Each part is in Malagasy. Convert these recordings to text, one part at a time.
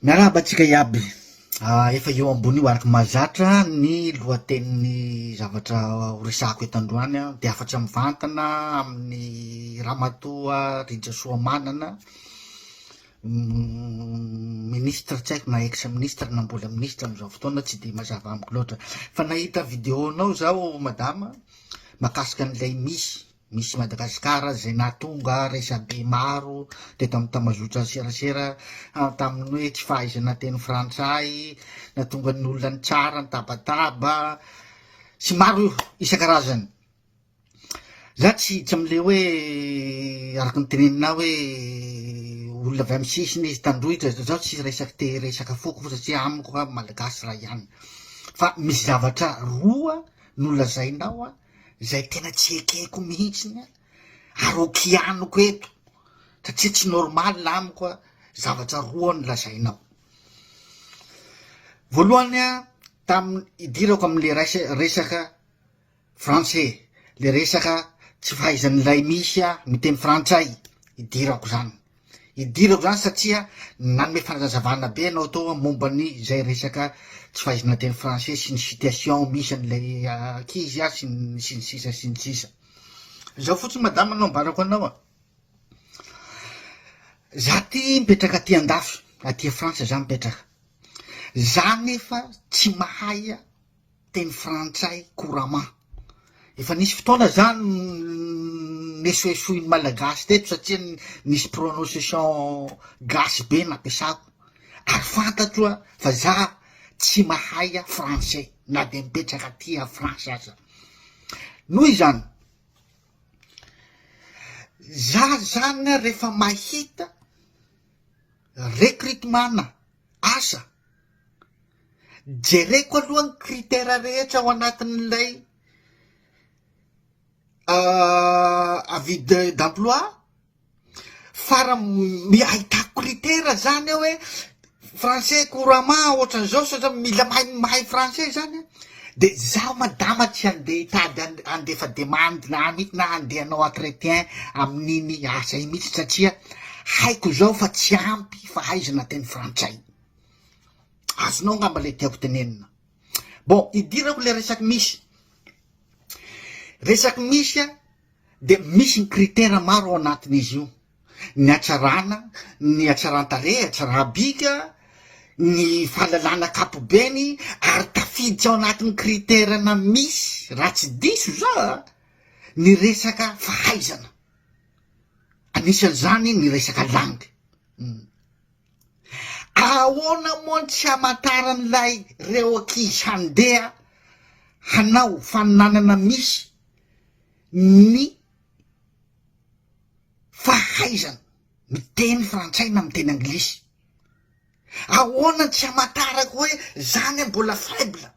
Miarahaba antsika iaby. Ah, efa eo ambony io araka mahazatra ny lohatenin'ny zavatra horesahako eto androany an, dia hafatra mivantana amin'ny Ramatoa Rija Soamanana, ministra tsy haiko na ex ministra na mbola ministra amin'izao fotoana tsy dia mazava amiko loatra. Fa nahita vidéo-nao zaho madama, makasika an'ilay misy Misy Madagascar izay nahatonga resabe maro teto amin'ny tambazotra serasera tamin'ny hoe tsy fahaizana teny frantsay, nahatonga ny olona nitsara, nitabataba sy maro io isan-karazany. Za tsy tsy amin'ilay hoe araka ny teneninao hoe olona avy amin'ny sisiny izy tandroitra, zaho tsy resaka te resaka foko satria amiko Malagasy iray ihany. Fa misy zavatra roa nolazainao izay tena tsy ekeko mihitsiny an, ary ho kianiko eto satria tsy normal amiko an, zavatra roa no lazainao, voalohany an, tamin'ny idirako amin'le rais- resaka français, le resaka tsy fahaizan'ilay misy ahy miteny frantsay idirako zany. Idirako zany satria nanome fanazazavana be ianao tao a momba ny zay resaka tsy fahaizana teny français sy ny situation misy an'ilay ankizy a sy ny sy ny sisa sy ny sisa zao fotsiny madama no ambarako anao a za ty mipetraka aty an-dafy aty a frantsa za mipetraka za nefa tsy mahay a teny frantsay couramment. Efa nisy fotoana zany nesoesoin'ny malagasy teto satria nisy prononciation gasy be nampiasako ary fantatro a fa za tsy mahay a français na de mipetraka aty a France aza noho izany za zany rehefa mahita recrutement-na Asa, jereko aloha ny critère rehetra ao anatin'ilay avis d'emploi fara ahitako critère zany eo hoe français couramment ohatran'izao satria mila mahay mahay français zany an. Dia izaho madama tsy handeha hitady an handefa demande na amiko na handeha hanao entretien amin'iny asa iny mihitsy satria haiko izao fa tsy ampy fahaizana teny frantsay. Azonao angamba ilay tiako tenenina. Bon, idirako ilay resaky misy. Resaky misy dia misy ny critère maro ao anatin'izy io. ny hatsarana, ny hatsaran-tarehy, hatsarabika, ny fahalalana ankapobeny ary tafiditra ao anatin'ny critère-na misy raha tsy diso za a, ny resaka fahaizana, anisan'izany ny resaka langue, uhm. Ahoana moa no tsy hamantaran'ilay reo ankizy handeha hanao faninanana misy ny. fahaizana miteny frantsay na miteny anglisy. Ahoana tsy hamantarako hoe zany aho mbola faible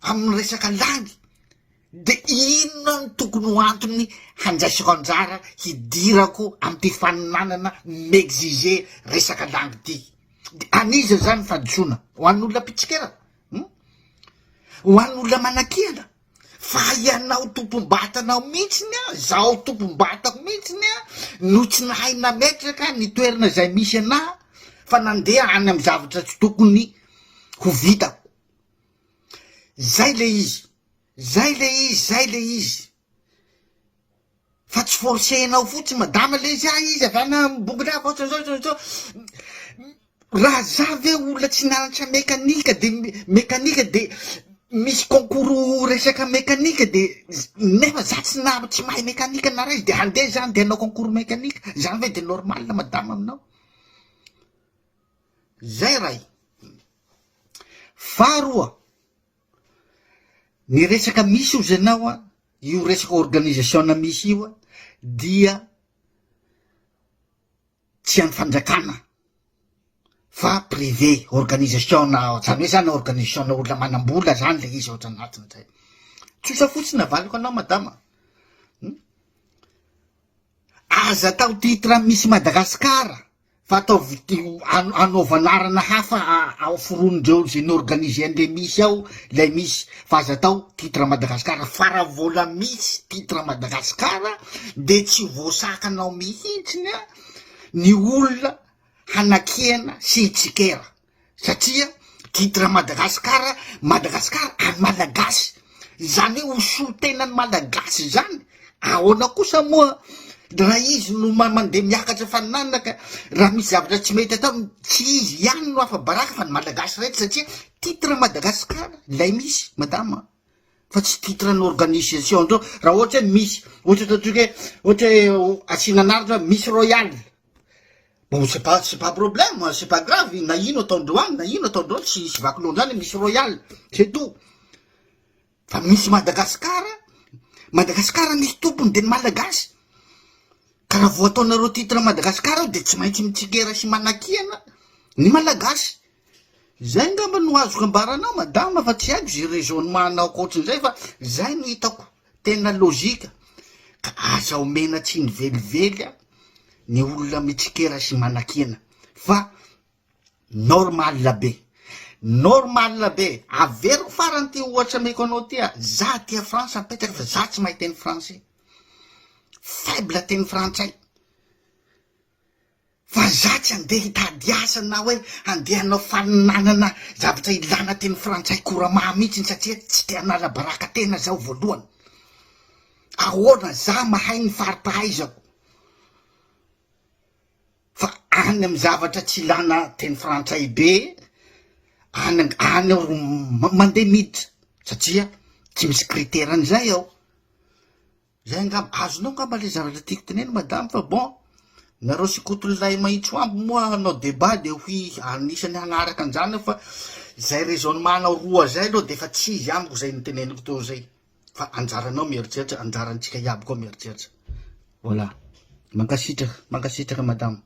amin'ny resaka langy, de inona no tokony ho antony handraisako anjara hidirako amin'ity faninanana mi-exiger resaka langy ity? De an'iza zany ny fahadisoana? Ho an'ny olona mpitsikera? Hum? Ho an'ny olona manakiana? Fa ianao tompom-batanao mihitsiny an, izaho tompom-batako mihitsiny an, no tsy nahay nametraka ny toerana izay misy anà fa nandeha any amin'ny zavatra tsy tokony ho vitako. Izay ilay izy, izay ilay izy, izay ilay izy. Fa tsy forcer-nao fotsiny madama le izy, izy avy any Ambohidrava ohatra zao zao zao, raha za ve olona tsy nianatra mekanika de mekanika de misy concours resaka mekanika de nefa za tsy na tsy mahay mekanika na ray de handeha za handeha hanao concours mekanika, zany ve de normal madama aminao? Zay ray, faharoa. Ny resaka misy ozy ianao an, io resaka organisation misy io an dia tsy an'ny fanjakana fa privé, organisation zany hoe zany organisation olona manam-bola zany le izy ao anatiny zay. Tsotra fotsiny avaliko anao madama a! Aza atao titre misy Madagasikara Fa ataovy anaovy anarana hafa ao foronindreo ze norganiser anle misy ao lay misy fa aza atao titre Madagascar fa ra vola misy titre Madagascar de tsy voasakanao mihitsiny ny olona hanakiana sy hitsikera satria titre Madagascar Madagascar any Malagasy izany hoe ho solotenan'ny Malagasy izany, ahoana kosa moa raha izy no mandeha miakatra faninanana ka raha misy zavatra tsy mety atao tsy izy ihany no afa-baraka fa ny Malagasy rehetra satria titre Madagascar ilay misy madama fa tsy titre an'ny organisation andreo raha ohatra hoe misy ohatra ataontsika hoe ohatra hoe asiana anaratra misy royale Bon c'est pas c'est pas problème c'est pas grave na ino ataondreo any na ino ataondreo any tsy vaky loha ndrany misy royal c'est tout fa misy Madagascar Madagascar misy tompony de ny malagasy ka raha vao ataonareo titre Madagascar de tsy maintsy mitsikera sy manakiana ny malagasy Izay ngamba no azoko ambara anao madama fa tsy haiko ze raisonnement anao ankoatrin'izay fa zay no hitako tena logique ka aza omena tsiny velively a ny olona mitsikera sy manakiana fa normal be normal be averiko farany ty ohatra ameko anao ty a za aty a France mipetraka fa za tsy mahay teny français faible teny frantsay Fa za tsy andeha hitady asa na hoe andeha hanao fanonanana zavatra ilana teny frantsay koramaha mihitsiny satria tsy te hanala baraka tena zaho voalohany. Ahoana za mahay ny fari-pahaizako fa any amin'ny zavatra tsy ilana teny frantsay be any any aho ro mandeha miditra satria tsy misy critère an'izay aho. Zay angamba, azonao angamba le zavatra tiako tenenina madame fa bon, nareo sy Koto Lilay Mahitsoambo moa hanao debat de ho anisany hanaraka anzany aho fa zay raisonnement-nao roa zay aloha defa tsy izy amiko zay niteneniko teo zay fa anjaranao mieritreritra, anjarantsika iaby koa mieritreritra, voilà, mankasitraka, mankasitraka madama.